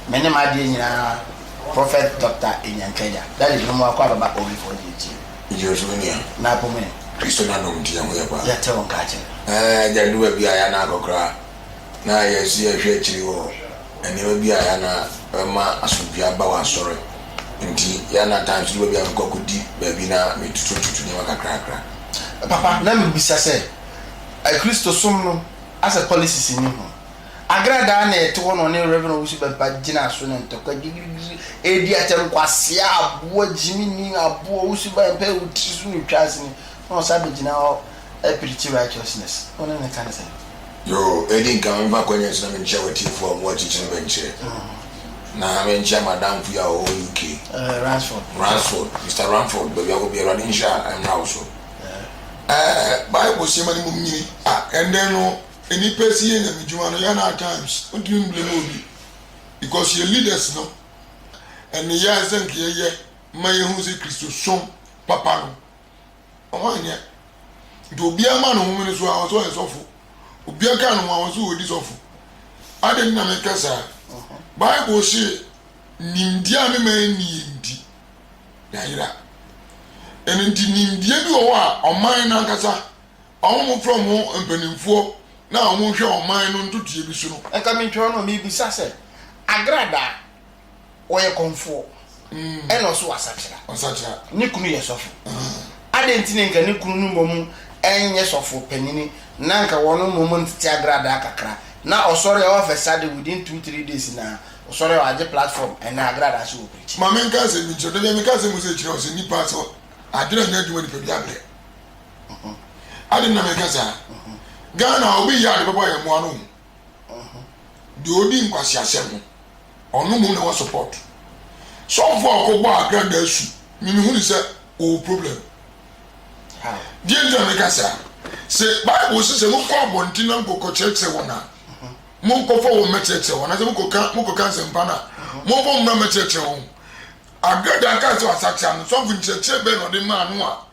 Me ne m'adeɛ nyinaa Prophet Doctor Enyankanya Daddy no mu akɔ ababa obi fo deɛ tie. Gyina so mania. Na po me. Kristo na nom nti yɛn ho yɛ paa. Yɛte wo nka akyɛ. Ɛɛ gya du baabi a yɛn nan akɔ koraa. na yɛ so yɛhwɛ akyiri wɔ nneɛma bi a yɛ ana bɛma asomdwie aba wɔ asɔre nti yɛ ana time so baabi a mekɔ akɔdi baabi na metutu tutu nneɛma kakrakra papa na mebisa sɛ akristo som no asɛ policies ni ho agradaa na ɛte hɔ na ɔne Reverend Owusu Bɛmpa gyina so na ntɔkwa gidigidi ɛdi atɛm nkwasea aboa gyimi ni aboa Owusu Bɛmpa ɛwutiri so ne twa ase ni na ɔsa bɛgyina hɔ Pretty righteousness wo ne no ka ne sɛn? Yoo, edi nkan me mfa akwanya yi so na menkyia w'atiefo a wɔwɔ akyirikyiri ne bɛnkyerɛ, na menkyia m'adamfo yi a ɔwɔ UK, Ransford, Ransford, Mister Ramford, baabi a wowɔ biara, Awurade nhyira a ɛmmra wo so. Ɛɛ, Bible se ma ne mmom nyini. Ah, ɛnnɛ no, nnipa si yɛn nyamedwuma no, yɛn at times, wontumi mblame obi, because yɛn leaders no nneyɛe a ɛsɛ sɛ nka yɛyɛ ma yɛhu sɛ Kristosom papa no, Ɔho anyɛ. Nti obiara ma no home no so a ɔsɛ ɔyɛ sɔfo. Obiara ka ne ho a ɔsɛ ɔdi sɔfo. Adɛn nti na meka saa? Bible se nimdeɛ a ne ma ɛnni yɛ nti, yɛayera. Ɛno nti nimdeɛ bi wɔ hɔ a ɔman no ankasa, wɔn mofrɛ wɔn ho mpanimfoɔ na wɔhwɛ ɔman no ntotoeɛ bi so no. Nka mentwerɛ no, merebisa sɛ, Agradaa. ɔyɛ kɔmfoɔ, ɛna ɔso wɔ asakyera, ne kunu yɛ sɔfo. Adɛn nti na nka ne kunu no mmom nyɛ sɔfo panyini na nka wɔn mmom ntete agradaa kakra na ɔsɔre all of a sudden within two three days na ɔsɔre a wagye platform ɛna agradaa so wɔ preaching? Ma me nka asɛm bi nkyerɛ wo, dabi a meka asɛm bi sɛ ɛkyerɛ wo sɛ nnipa sɛ adwene nyɛ adwuma nipadua brɛ. Adɛn nti na meka saa? Ghana a obi yɛ a na ɛbɛbɔ yɛn mmoa no ho. Deɛ ɔdi nkwaseasɛm ho ɔno mmom na wɔ support. Sɔfoɔ a ɔkɔ bɔɔ agranda asu me me hunu sɛ ɔwɔ problem. Deɛ nti na me ka saa sɛ bible sɛ sɛ mo kɔ abɔnten na nkɔ kɔ kyerɛkyerɛ wɔn a mo nkɔ fɔ wɔn mɛkyerɛkyerɛ wɔn anasɛ mo kɔ ka mo kɔ ka nsɛmpa na mo bɔ mmra mɛkyerɛkyerɛ wɔn. Agranda aka sɛ wasakyera no sɔfo nkyerɛkyerɛ bɛn na ɔde maa no a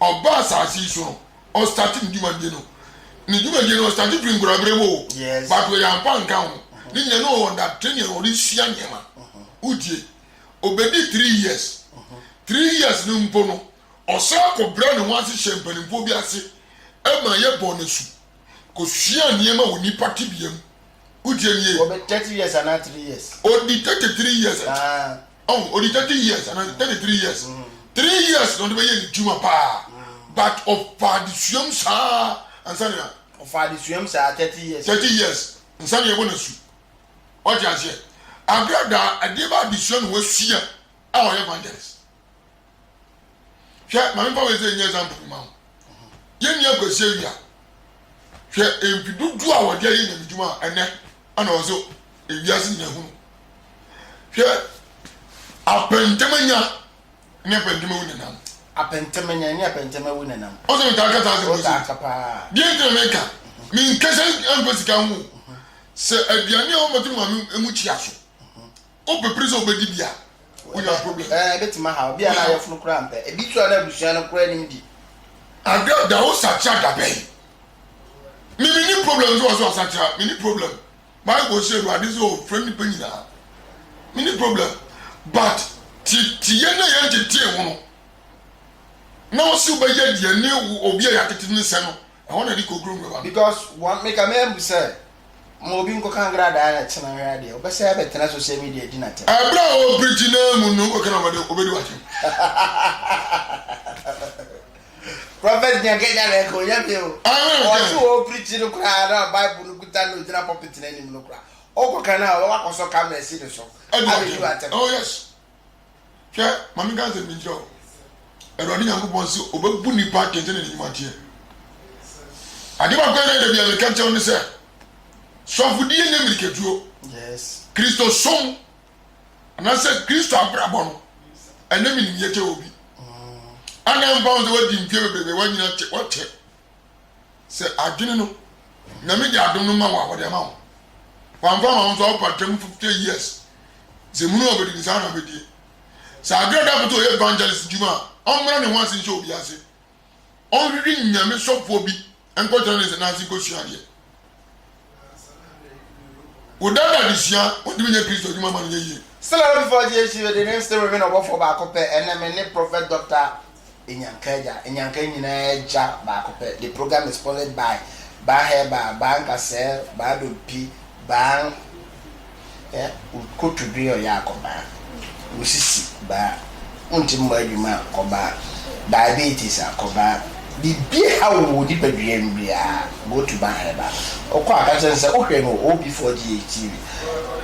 ɔbaa asase yi so no ɔstate ne dwumadie no ne dwumadie no ɔstate firi nkuraberɛ mu o but ɔyɛ ampa nka ho uh-huh. ne nyina ne ɔwɔ date ne ɔde sua nneɛma uh-huh. wotie ɔbɛdi three years uh-huh. three years no mpo no ɔsan kɔbrɛ ne ho ase hyɛ mpanimfoɔ bi ase ɛma yɛ bɔ no su kɔsua nneɛma wɔ nipa tebea mu wotie nie ɔbɛ thirty years anaa three years ɔdi thirty three years ah. Oh ɔdi thirty years ana thirty three years three years na ɔde bɛyɛ ne dwuma paa but ɔfa adesuam saa ansa na. ɔfa adesuam saa thirty years. thirty years nsa na yɛbɔ n'asu ɔte aseɛ agradaa ɛdeɛ bɛ adesua na wasua a ɔyɛ evangelist hwɛ maame fa wei sɛ nyɛ example bi ma wo yɛn nua kwasi awia hwɛ mpi dodoɔ a wɔde ayɛ nyame dwuma a ɛnɛ ɛna wɔn sɛ ewiase nyina hunu hwɛ apɛntɛmanya ne apɛntɛmɛ wu nenam apɛntɛmanya ne apɛntɛmɛ wu nenam ɔsɛ mi taa kasa asɛm bi sɛ deɛ ntina mi nka mi nkasa nfa sika ho sɛ aduane a wɔn bɛtɔ maame mu kyia so. o pe pere sɛ obedi bi a wo nya problem. Ɛɛ ebe tuma ha obi a na ayɔfo no kura mpɛ ebi so a na abusua no kura nim di. Ada da wo sakyera da bɛn me me ni problem nso wɔ so asakyera me ni problem bible sɛ awurade sɛ o fre nipa nyinaa me ni problem but ti ti yɛ na yɛn ti tie ho no na wo si wo bɛ yɛ deɛ ne obi a yɛ atete ne sɛ no. Ɛhɔ na ɛde kookuro nkurofoɔ. Because wɔn me ka mɛn bu sɛ ma obi nkɔka nkradaa no ɛtena hwɛ adeɛ ɔbɛsɛ abɛtena social media di n'atɛm. Ɛberɛ a ɔrepirikyi naa mu no nkɔka na ɔbɛde ɔbɛdi w'atɛm. Prophet Nyan kɛgya na ɛka ɔnya bie o. Amen. Ɔte wɔ ɔpirikyi no koraa na Bible no kuta na ɔgyina pulpit no anim no koraa. Ɔkɔka no a ɔbɛba akɔsɔ camera si no so. Ɛdi w'atɛm. Oh yes. Hwɛ, ma menka asɛm bi nkyerɛ wo. Awurade Nyankopɔn se ɔbɛbu nnipa atɛn sɛdeɛ ne nnwuma teɛ. Ade baako a na ɛda bi a meka kyerɛ wo ne sɛ, soafodie nyɛ mmirikatuo. Kristo som anaasɛ Kristo abrabɔ no, ɛnyɛ menimyɛ kyɛ obi. Ana mpa ho sɛ woadi mfeɛ bebrebe, woanyina kyɛ, woakyɛ. Sɛ adwene no Nyame de adom no ma wo a wɔde ama wo Wamfa ama wo nso a wopɛ atra mu 50 years Sɛ hunu a obedi ne saa na obedie Sɛ Agra da koto ɔyɛ evangelist dwuma a ɔmmra ne ho ase nhyɛ obi ase Ɔnhwehwe Nyame sɔfoɔ bi nkɔtena ne nsa n'ase nkɔsua adeɛ Wo dan adesua, Wɔde me nyɛ Kristo adwuma ama no nyɛ yie. Still I before GHC with the name still remain ɔbɔfoɔ baako pɛ ɛnɛ me ne Prophet Doctor Enyanka Agya Enyanka nyinaa agya baako pɛ the program is sponsored by Baa Herbal Baa Nkasɛɛ Baa Dompi Baa Koto dwe ɔyɛ a kɔbaa. Wo sisi baa. Wonte mmɔ adwuma a kɔbaa. Diabetes a kɔbaa. Biribi ha wo wɔ nipadua mu biara go to baa hɛ baa. Wokɔ a ka kyerɛ no sɛ wohwɛ no wɔ OB4GH TV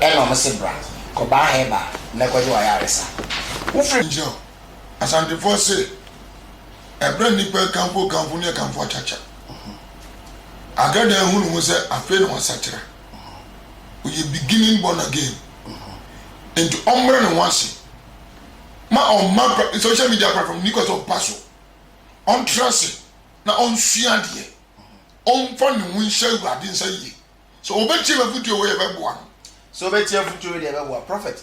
ɛna ɔmo se bra. Kɔbaa hɛ baa na kɔgye w'ayaresa. Wofiri. Nti no Asantefoɔ se ɛberɛ a nnipa rekamfo kamfo ne akamfo akyakya. Agradaa hunu ho sɛ afei na wasakyera. ɔyɛ beginning born again nti ɔmmrɛ ne ho ase ma ɔmma social media platform ni kɔ sɛ ɔba so ɔntra ase na ɔnsua adeɛ ɔmfa ne ho nhyɛ awurade nsa yie sɛ ɔbɛtie mafotuo wɔ yɛ bɛboa no sɛ ɔbɛtie afotuo wɔ deɛ bɛboa prophet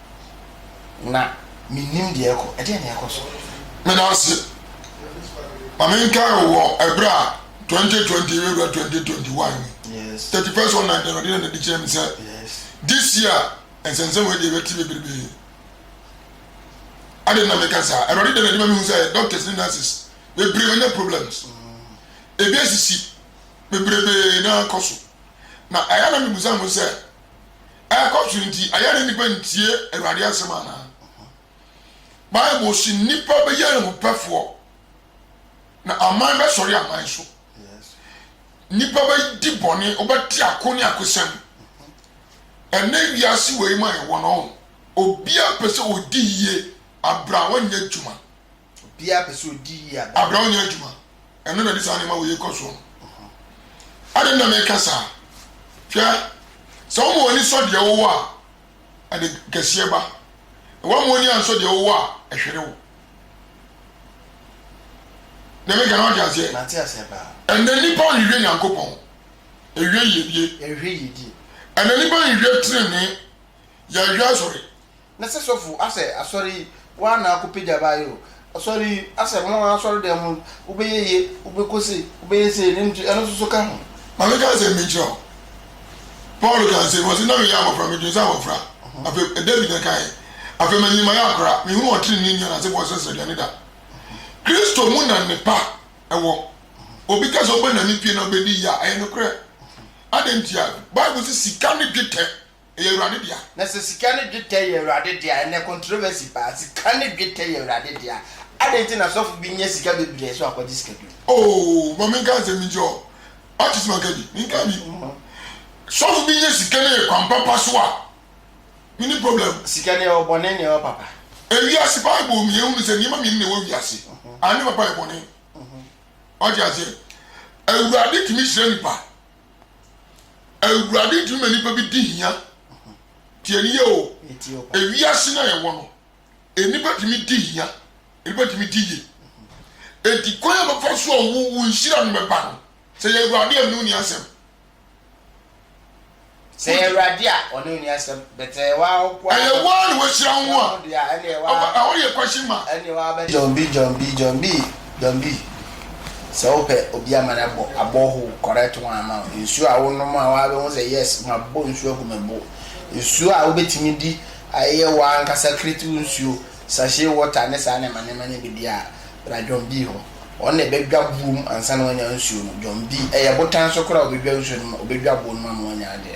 na mennim deɛ ɛrekɔ. Ɛdeɛn na ɛrekɔ so? Meda wo ase. Ma menkae wo wɔ ɛberɛ a 2020 rewura 2021 mu. Yes. 31st of night na Awurade na nadi kyerɛ me sɛ Yes. this year nsɛnsɛm wei deɛ ɛbɛte bebrebe. Ade na meka saa. Awurade de na adwuma mehu sɛ doctors ne nurses bebree wɔnya problems. Ebi asisi bebrebe na akɔ so. Na ɛyɛ na mebusa ho sɛ ɛrekɔ so nti, ɛyɛ ne nnipa ntie Awurade asɛm anaa? Bible si nnipa bɛyɛ ahupɛfoɔ na aman bɛsɔre aman so. Nnipa bɛdi bɔne, wobɛte ako ne akosɛm. Ɛnɛ wiase wei ma ɛwɔ no, obia pɛ sɛ ɔdi yie, abrɛ a wɔnyɛ adwuma. Obiara pɛ sɛ ɔdi yie a. Abrɛ wo nyɛ adwuma. Ɛno na ɛde saa nneɛma wei rekɔ soɔ no. Adɛn na mereka saa? Hwɛ, sɛ woma w'ani sɔ deɛ wowɔ a, ɛde kɛseɛ ba, na woamma w'ani ansɔ deɛ wowɔ a, ɛhwere wo. Deɛ mereka no, woate aseɛ? Mate aseɛ paa. Ɛnnɛ nnipa nhwehwɛ Nyankopɔn, yɛhwehwɛ yiedie. Yɛhwehwɛ yiedie. Ɛnnɛ nnipa nhwehwɛ tenenee, yɛhwehwɛ asɔre. na sɛ sɔfo asɛ asɔre yi woa na akɔ pagya baa yi o asɔre yi asɛ mo asɔre dɛm mu wobɛyɛ yie wobɛkɔ sei wobɛyɛ sei ne nti ɛno nso so ka ho. Maame ka nsɛm bi nkyerɛ wo. Paul ka nsɛm bi, ɔse, Na meyɛ abɔfra, medwen sɛ abɔfra. Afei, David na ɛkaeɛ. Afei manyin mayɛ akora, menhunu ɔtrenee nni anansefoɔ srɛsrɛduane da. Kristo mu na nnepa wɔ. Obi ka sɛ ɔbɛnane pie na ɔbɛdi yea, ɛyɛ nokorɛ. Adɛn ntia? Bible se sika ne dwetɛ Ɛyɛ Awurade dea. Na sɛ sika ne dwetɛ yɛ Awurade dea, ɛnnɛ controversy paa, sika ne dwetɛ yɛ Awurade dea, adɛn nti na sɔfo bi nya sika bebree so akɔgye sika bi mu? Oh, ma menka asɛm bi nkyerɛ wo. Woate sɛ manka bi? Menkaa bi. Sɔfo bi nya sika no yɛ kwan papa so a, menni problem. Sika no, ɛwɔ bɔne na ɛwɔ papa. Ewiase, Bible mu yɛhunu sɛ nneɛma mmienu na ɛwɔ wiase, ade papa ne bɔne. Woate aseɛ? Awurade tumi hyira nnipa, Awurade ntumi ma nipa bi di hia. Tie ni yɛ o. Ewiase na yɛwɔ no, nipa tumi di hia, nipa tumi di yie. Eti kwan a bɛfa so a wo wo nhyira no bɛba no, sɛ yɛ Awurade a ɛno ni asɛm. Sɛ yɛ Awurade a ɔno ni asɛm, bɛtɛ yɛ waa ɔko a. Ɛyɛ waa na wahyira ho a. Ɛno deɛ ɛne yɛ waa. Ɛhɔ yɛ question mark. Ɛne waa bɛ. John B John B John B Don B, Sɛ wopɛ obi ama no abɔ a borehole correct one ama wo. Nsuo a wonom a waa bɛhu sɛ yes mabɔ nsuo agu me bo. Nsuo a wobɛtumi di a ɛyɛ waa ankasa kiritiw nsuo, sachet water ne saa nneɛma nneɛma no bi deɛ a bra John B hɔ. Ɔno na ɛbɛdwa boɔ mu ansa na wanya nsuo no. John B, Ɛyɛ botan so koraa a ɔbɛdwa nsuo no ma ɔbɛdwa boɔ no mu ama wanya adeɛ.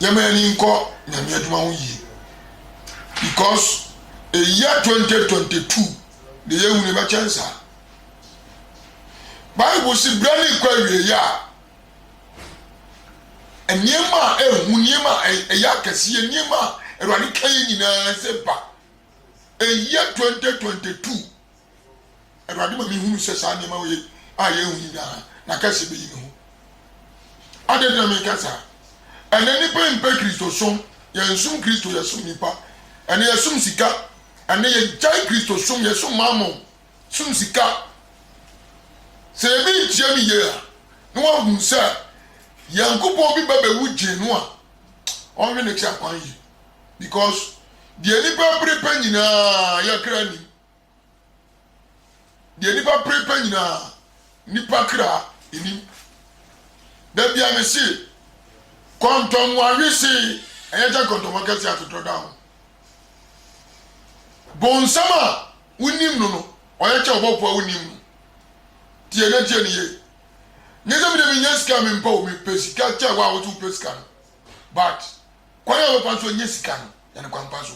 yɛma yɛn ani nkɔ nyame adwuma ho yie because ɛyɛ 2022 na ɛyɛ hunu bɛkyɛn saa bible si berɛ ne kɔ awieɛ a nneɛma a ɛhu nneɛma a ɛyɛ akɛseɛ nneɛma a awurade ka yi nyinaa sɛ ba ɛyɛ 2022 Awurade ma mehunu sɛ saa nneɛma wei a yɛahu nyinaa, n'akɛse beyi ne ho. Adɛn nti na meka saa? Ɛnnɛ nnipa mpɛ Kristosom. Yɛnsom Kristo, yɛsom nnipa. Ɛnnɛ yɛsom sika. Ɛnnɛ yɛgyae Kristosom, yɛsom Mammon, som sika. Sɛ yɛbi ntie no yie a, na wahu sɛ Nyankopɔn bi ba bɛwu gyee no a, ɔnhwɛ n'akyi akwan yie. Because deɛ nnipa pere pɛ nyinaa, yɛn kra nim. Deɛ nnipa pere pɛ nyinaa, nnipa kra nnim. Da biara mese, kɔntɔnmoa wesee, ɛyɛ gya kɔntɔnmoa kɛseɛ atodorɔ da ho. Bonsam a wonim no no, ɔyɛ kyɛ ɔbɔfoɔ a wonim no. Tie na tie no yie. Nyɛ sɛ medeɛ menya sika a mempɛ o, mepɛ sika kyɛ wo a wose wopɛ sika no. But kwan a wobɛfa so anya sika no, Yɛ no kwan pa so.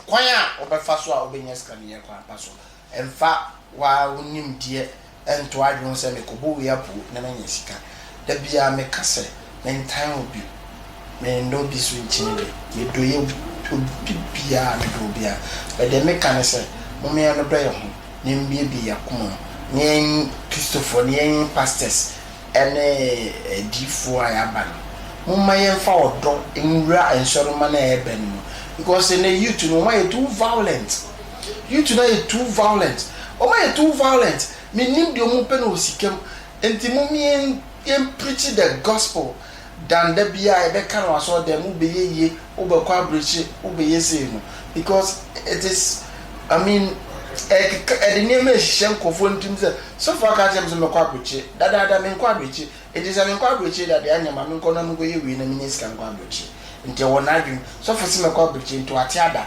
Kwan a wobɛfa so a wobɛnya sika no, yɛ kwan pa so. Mfa wo ara wo nimdeɛ nto w'adwene ho sɛ, Mekɔbɔ wei apoo na manya sika. Da biara meka sɛ, Mentan obi, mennɔ obi nso nkyene bi. Medɔ yɛ obi biara, medɔ obiara. But deɛ meka ne sɛ, Momma yɛnnodɔ yɛ ho, na yɛmmuebue yɛ akoma mu, na yɛn Kristofoɔ no, yɛn pastors, ne adiyifoɔ a yɛaba no momma yɛmfa ɔdɔ nwura nsɔremma no a ɛrebɛn no mu because ɛnɛ youth no wɔn ayɛ too violent youth no ayɛ too violent wɔn ayɛ too violent mennim deɛ wɔn pɛ no wɔ sika mu nti mom yɛn yɛn preach the gospel dan da biara yɛbɛka no wɔ asɔrdan mu wobɛyɛ yie wobɛkɔ abrekyire wobɛyɛ sei no because it is I mean ɛkeka ɛde nneɛma ɛhyehyɛ nkorɔfoɔ no tirim sɛ sɔfo aka akyerɛ me sɛ mɛkɔ abrekyire dadaada menkɔ abrekyire nti sɛ menkɔ abrekyire da deɛ ɛneɛ ma menkɔ na menkɔyɛ wei na menya sika nkɔ abrekyire nti ɛwɔ n'adwene sɔfo se mɛkɔ abrekyire nti wate ada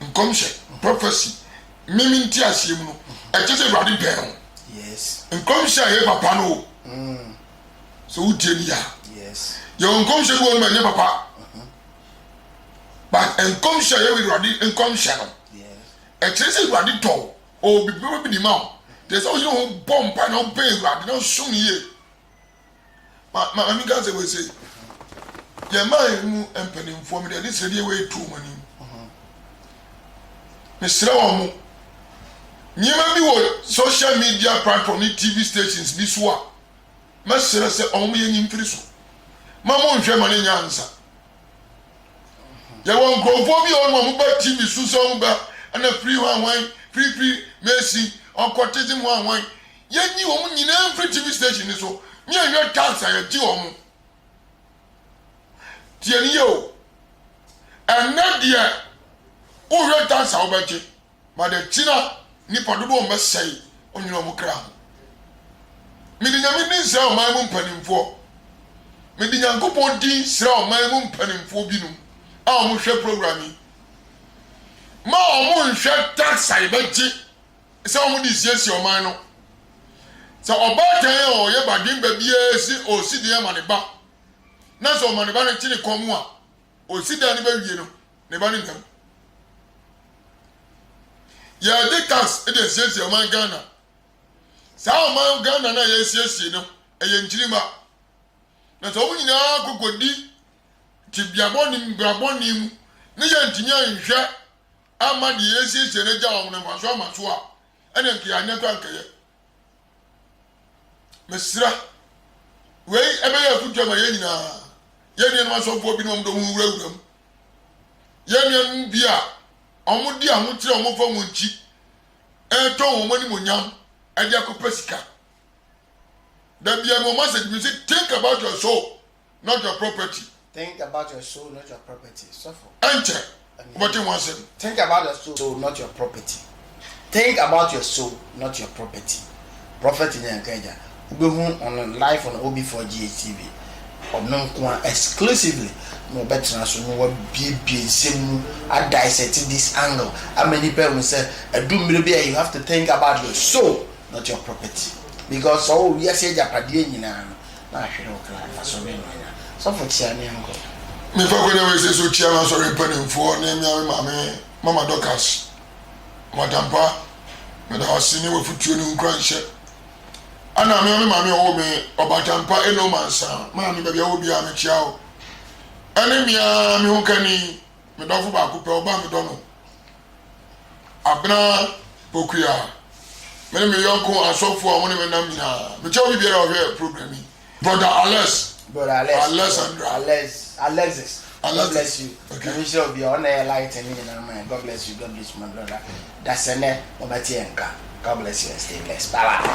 Nkɔmhyɛ, prophecy, me me nteaseɛ mu no, ɛkyɛ sɛ Awurade bɛn ho. Nkɔmhyɛ a ɛyɛ papa no o, mm. sɛ wotie ni a, yɛwɔ nkɔmhyɛ bi wɔ no ma ɛnyɛ papa. Mm-hmm. But nkɔmhyɛ a yɛwɔ Awurade nkɔmhyɛ no, ɛkyerɛ sɛ Awurade dɔ o, ɔwɔ biribi bi de ma o. Deɛ sɛ woyere ho bɔ mpa na wobɛn Awurade na wosom no yie. Ma me nka sɛ wei sei, yɛn man yi mu mpanimfoɔ mede ɛde sɛdeɛ wei to wɔn anim. Mesrɛ wɔn mo, nneɛma bi wɔ social media platform ne TV stations bi so a, mɛsrɛ sɛ wɔn mo yɛ nyi mfiri so. Ma mo nhwɛ ma ne nya ansa. Yɛwɔ nkurɔfoɔ bi a wɔn mo ba TV so sɛ wɔn ba ɛna free hwanhwan, free free Messi, occultism hwanhwan. Yɛnyi wɔn nyinaa mfiri TV station no so na yɛnhwɛ tax a yɛgye wɔn. Tie no yie o. Ɛnnɛ deɛ wohwɛ tax a wobɛgye ma de akyi na nnipa dodoɔ mmɛsɛe ɔnwene wɔn kra ho. Mede Nyame din srɛ ɔman mu mpanimfoɔ. Mede Nyankopɔn din srɛ ɔman mu mpanimfoɔ binom a wɔhwɛ program yi. Ma wɔnhwɛ tax a yɛbɛgye sɛ wɔde resiesie ɔman no. Sɛ ɔbaatan a ɔyɛ baden ba biara se ɔresi dan ama ne ba, na sɛ ɔma ne ba no te ne kɔn mu a, ɔsi dan no bɛwie no, ne ba no nna mu. Yɛde tax de asiesie ɔman Ghana. Saa ɔman Ghana no a yɛresiesie no, ɛyɛ nkyirimma. Na sɛ wɔn nyinaa kɔkɔdi tebea bɔne mu, bra bɔne mu, ne yɛntumi anhwɛ amma deɛ yɛasiesie no agya wɔn no mfasoɔ amma so a, ɛnneɛ anka yɛanyɛ tɔ ankɛyɛ. Mesrɛ, wei ɛbɛyɛ afotuo ama yɛn nyinaa. Yɛn nuanom asɔfoɔ binom de wɔn ho wurawura mu. Yɛn nuanom bi a wɔde ahokyerɛ a wɔfa wɔn nkyi retɔn wɔn animuonyam de akɔpɛ sika. Da biara no wɔn asɛ tumi sɛ, Think about your soul. not your property. Think about your soul, not your property. Suffer. Enter. But in one sin. Think about your soul, not your property. Think about your soul, not your property. Prophet in Yankaja. Ubehu on life on OB4 GHTV. ɔno nko a exclusively na ɔbɛtena so na wabiebie nsɛm mu adissect this angle ama nipa ehu sɛ ɛdu mmiri bi a you have to think about your soul not your property because ɔwɔ wiase agyapadeɛ nyinaa no Mahwere wo kra n'asɔre no anya. Sɔfo tia ne yɔnko. Mefa kwan a ɛwɔ Ese so kyia m'asɔre mpanimfoɔ ne mmea me maame Mama Dorcas Madampah. Meda wo ase ne w'afotuo ne wo nkuranhyɛ. Ana mmea me maame a ɔwoo me Ɔbatampah Eno Mansa maame baabi a wowɔ biara mekyia wo. Ɛne mmea me hokani Me dɔfo baako pɛ, ɔba a medɔ no abena Pokuya, me ne me yɔnko asɔfo a wɔn ne me nam nyinaa. Mekyɛ obi biara a ɔhwɛ program yi. Brother Alex. Brother Alex. Alexandra. Alex. Alexis. Alexis. God bless you. Okay. Ɛmi nhyira obi a ɔna yɛ light ne nyinaa ma yɛ. God bless you. God bless you my brother. Dasɛnɛ ɔbɛte yɛn nka. God bless you and stay blessed. Bye bye.